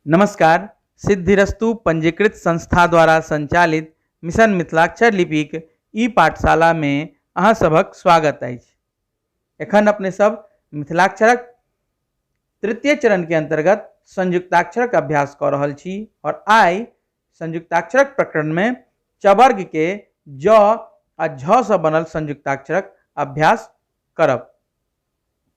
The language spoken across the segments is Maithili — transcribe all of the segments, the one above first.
नमस्कार सिद्धिरस्तु पंजीकृत संस्था द्वारा संचालित मिशन मिथिलाक्षर लिपिक ई पाठशालामे अहाँ सभक स्वागत अछि एखन अपने सब मिथिलाक्षरक तृतीय चरणके अन्तर्गत संयुक्ताक्षरक अभ्यास कऽ रहल छी आओर आइ संयुक्ताक्षरक प्रकरणमे चवर्गके ज आ झ सँ बनल संयुक्ताक्षरक अभ्यास करब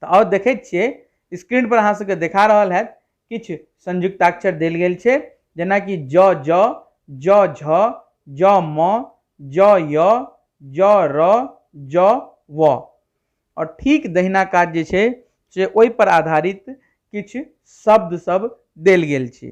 तऽ आओर देखै छियै स्क्रीन पर अहाँ सबके देखा रहल हैत किछु संयुक्ताक्षर देल गेल छै जेनाकि ज ज ज झ ज म ज य ज र ज व आओर ठीक दहिना काज जे छै से ओहिपर आधारित किछु शब्द सब देल गेल छै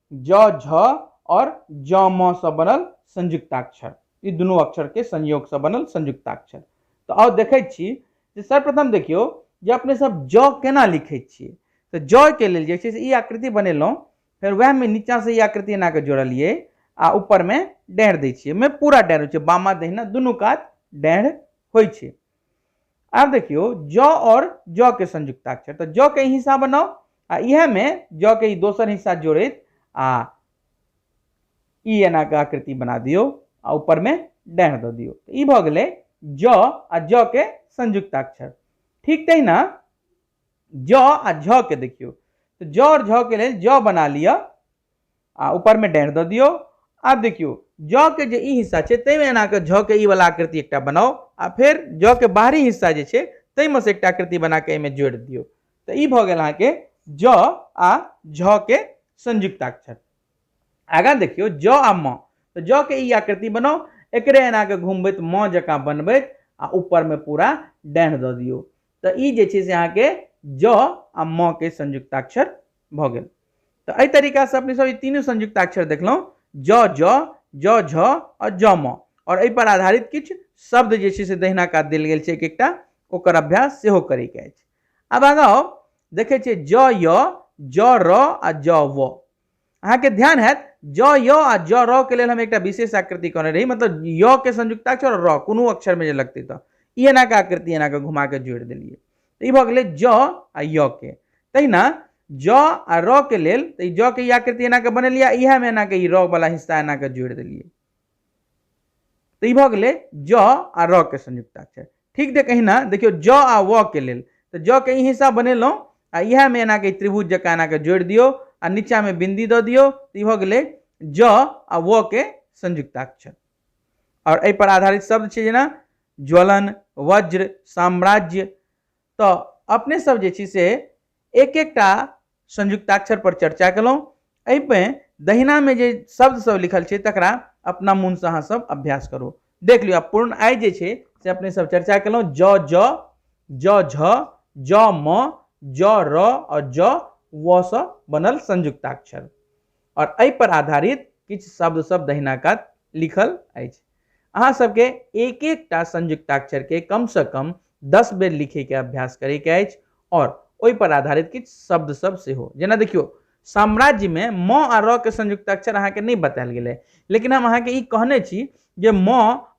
ज झ और ज म से बनल संयुक्ताक्षर ई दुनू अक्षर के संयोग से बनल संयुक्ताक्षर तो आउ देखे छी जे सर्वप्रथम देखियो जे अपने सब ज केना लिखे छी तो ज के लेल जे छै से ई आकृति बनेलहुँ फेर वह में नीचा से ई आकृति एना के जोड़लिए आ ऊपर में डेढ़ दै छियै में पूरा डेढ़ होइ छै बामा दहिना दुनू कात डेढ़ होइ छै आब देखियो ज और ज के संयुक्ताक्षर तो ज के हिस्सा बनाओ आ यह में ज के दोसर हिस्सा जोड़े आ ई एना के आकृति बना दियो आ ऊपर में डह दो दियो तो ई भ गए ज आ ज के संयुक्ताक्षर ठीक तही ना ज आ झ के देखियो तो ज और झ के लिए ज बना लिया आ ऊपर में डाँड़ दऽ दियौ आब देखियौ जौ के जे ई हिस्सा छै ताहिमे एना कऽ झ के ई वाला आकृति एकटा बनाउ आ फेर जौ के बाहरी हिस्सा जे छै ताहिमे से एकटा आकृति बना कऽ एहिमे जोड़ि दियौ तऽ ई भऽ गेल अहाँके जौ आ झ के संयुक्ताक्षर आगाँ देखियौ जौ आ म तऽ जौ के ई आकृति बनाउ एकरे एना कऽ घुमबैत म जकाँ बनबैत आ ऊपर में पूरा डाँड़ दऽ दियौ तऽ ई जे छै से अहाँके ज आ म के संयुक्ताक्षर भऽ गेल तऽ एहि तरीकासँ अपने सब ई तीनू संयुक्ताक्षर देखलहुँ ज ज ज झ आ ज म आओर एहिपर आधारित किछु शब्द जे छै से दहिना कात देल गेल छै एक एकटा ओकर अभ्यास सेहो करैके अछि आब आगाँ आउ देखै छियै ज य ज र आ ज व अहाँके ध्यान हैत ज य आ ज र के लेल हम एकटा विशेष आकृति कहने रही मतलब य के संयुक्ताक्षर और र कोनो अक्षर में जे लगते तो ई एना के आकृति एना के घुमा के जोड़ दिलिए तो ई भ गेलै ज आ य के तहिना ज आ र के लेल तो ज के ई आकृति एना के बनेलिए इएह में एना के ई र वाला हिस्सा एना के जोड़ दिलिए तऽ ई भऽ गेलै ज आ र के संयुक्ताक्षर ठीक देख अहिना देखियौ ज आ व के लेल तऽ ज के ई हिस्सा बनेलहुँ आ इएहमे एनाके त्रिभुज जकाँ एनाके जोड़ि दियौ आ नीचाँमे बिन्दी दऽ दियौ तऽ ई भऽ गेलै ज आ व के संयुक्ताक्षर आओर एहिपर आधारित शब्द छै जेना ज्वलन वज्र साम्राज्य तऽ अपने सब जे छी से एक एकटा संयुक्ताक्षर पर चर्चा केलहुँ एहिमे दहिनामे जे शब्द सब लिखल छै तकरा अपना मोनसँ अहाँ सब अभ्यास करू देख लियौ आब पूर्ण आइ जे छै से अपने सब चर्चा केलहुँ ज ज ज झ ज म ज र और ज व सँ बनल संयुक्ताक्षर और एहि पर आधारित किछु शब्द सब दहिना कात लिखल अछि अहाँ सबके एक एकटा संयुक्ताक्षर के कम से कम दस बेर लिखे के अभ्यास करे के अछि और ओहि पर आधारित किछ शब्द सब से हो जेना देखियो साम्राज्य में म आ र के संयुक्ताक्षर अहाँ के नहीं बतायल गेले लेकिन हम अहाँ के ई कहने छी जे म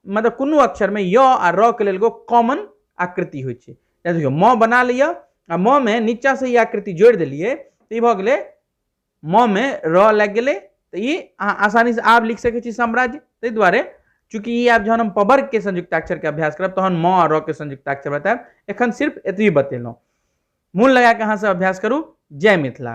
मतलब कोनो अक्षर में य आ र के लेल एगो कॉमन आकृति होइ छै जेना देखियो म बना लिया आ म में नीचा से ई आकृति जोड़ देलिए तो ई भ गेले म में र लागि गेलै तऽ ई अहाँ आसानीसँ आब लिख सकै छी साम्राज्य ताहि दुआरे चूँकि ई आब जहन हम पवर्ग के संयुक्ताक्षर के अभ्यास करब तहन म आ र के संयुक्ताक्षर बतायब एखन सिर्फ एतबी बतेलहुँ मोन लगा कऽ अहाँसभ अभ्यास करू जय मिथिला